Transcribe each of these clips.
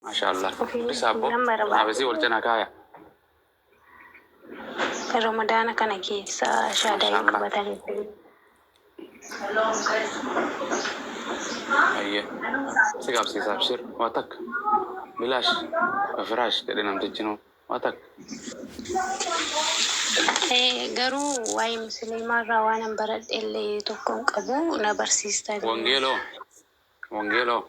Maashaa Allah. Ofiin Dubbisaa abboo. nan barbaada. Xanaabesii wal cina kaaya. Ramadaana kana keessa shaadaa hin Mashallah. qabatanii jiru. Ayyee. Si qabsiisa abshir. Waa takka. Bilaash. Waa firaash jedhe namtichinuu. Waa takka. Eh, Garuu waa'ee musliimaa irraa waan hin baradhe illee tokko hin qabu na barsiistan. Wangeeloo. Wangeeloo.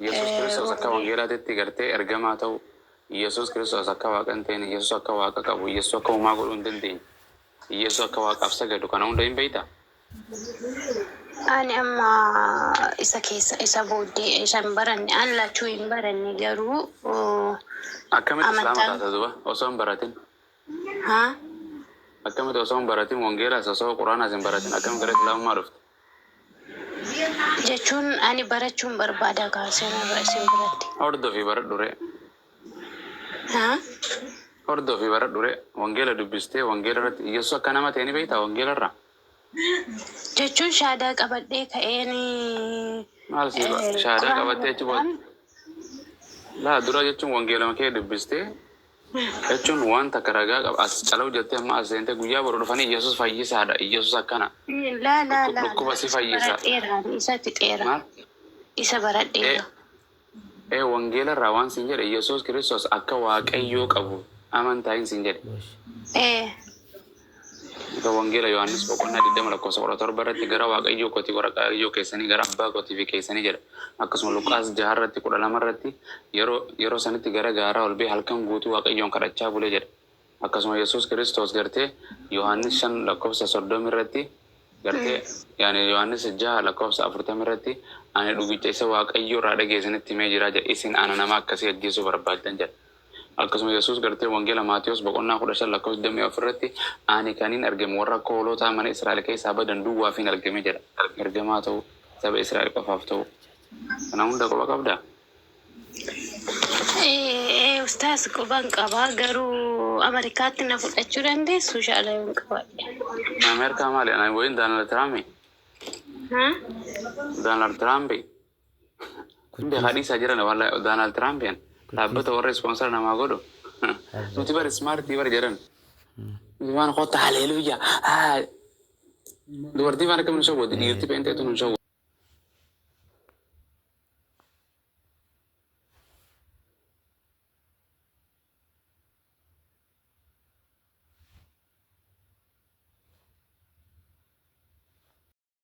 Yesus Kiristoos akka wangeelaatitti gartee ergamaa ta'uu, Yesus Kiristoos akka Waaqa hin teene, Yesus akka Waaqa qabu, Yesus akka homaa godhuu hin dandeenye, Yesus akka Waaqaaf sagadu kana hunda hin beektaa? Ani amma isa keessa isa booddee isa hin baranne an lachuu hin baranne garuu Akkamitti Islaama amantaan taata duba osoo hin baratin? haa Akkamitti osoo hin baratin wangeelaas osoo quraanaas hin baratin akkamitti gara Islaamummaa dhufte? Jechuun ani barachuun barbaada kaa seenarra isin biratti. Hordofi baradhu ree. Haa. Hordofi baradhu ree. Wangeela dubbistee wangeela irratti Iyyasuus akka nama ta'e ni beektaa wangeela irraa? Jechuun shaadaa qabadhee ka'een. Maal sii ba shaadaa qabattee achi booda? Laa dura jechuun wangeelama kee dubbistee Jechuun waan takka ragaa qaba. As cala hojjattee amma as seentee guyyaa boru dhufanii Iyyasuus fayyisaadha. Iyyasuus akkana. Laa laa laa Dhukkuba laa si isa fayyisa. baradheera ani isa fixeera Maal? isa baradheera. Ee, ee wangeela irraa waan siin jedhe Iyyasuus Kiristoos akka Waaqayyoo qabu amantaayin siin jedhe. Ee. Isa Wangeela Yohaannis boqonnaa 20 lakkoofsa 17 irratti gara Waaqayyoo kooti Waqaayyoo keessanii gara Abbaa kootii fi keessanii jedha. Akkasuma Luqaas 6 irratti 12 irratti yeroo yeroo sanitti gara gaaraa ol ba'ee halkan guutuu Waaqayyoon kadhachaa bule jedha. Akkasuma Yesuus Kiristoos gartee Yohaannis 5 lakkoofsa 30 irratti gartee yaani Yohaannis 6 lakkoofsa 40 irratti ani dhugicha isa Waaqayyoo irraa dhageesanitti himee jira jedha. Isin ana nama akkasii ajjeesuu barbaaddan jedha. Akkasuma Yesuus gartee Wangeela Maatewos boqonnaa 15 lakkoofsa 24 irratti Ani kanin argem warra akka hoolotaa mana Israa'el keessaa badan duwwaafin argeme jedha. Ergamaa ta'uu, saba Israa'el qofaaf ta'uu. Kana hunda quba qabdaa? Ee ustaaz quban qaba garuu Ameerikaatti na fudhachuu dandeessu shaala yoon qabaadhe. Ameerikaa maali? Ani wayiin Daanaald Tiraampi. Haa? Daanaald Tiraampi. Hundi haa dhiisaa jiran wallahi Doonaald Tiraampiin dhaabbata warra ispoonsara namaa godhu. Nuti bar ismaartii bar jedhan. Nuti waan kotta haleeluyya. Dubartii waan akka nu shawwaddi dhiirti peenteetu nu shawwaddi.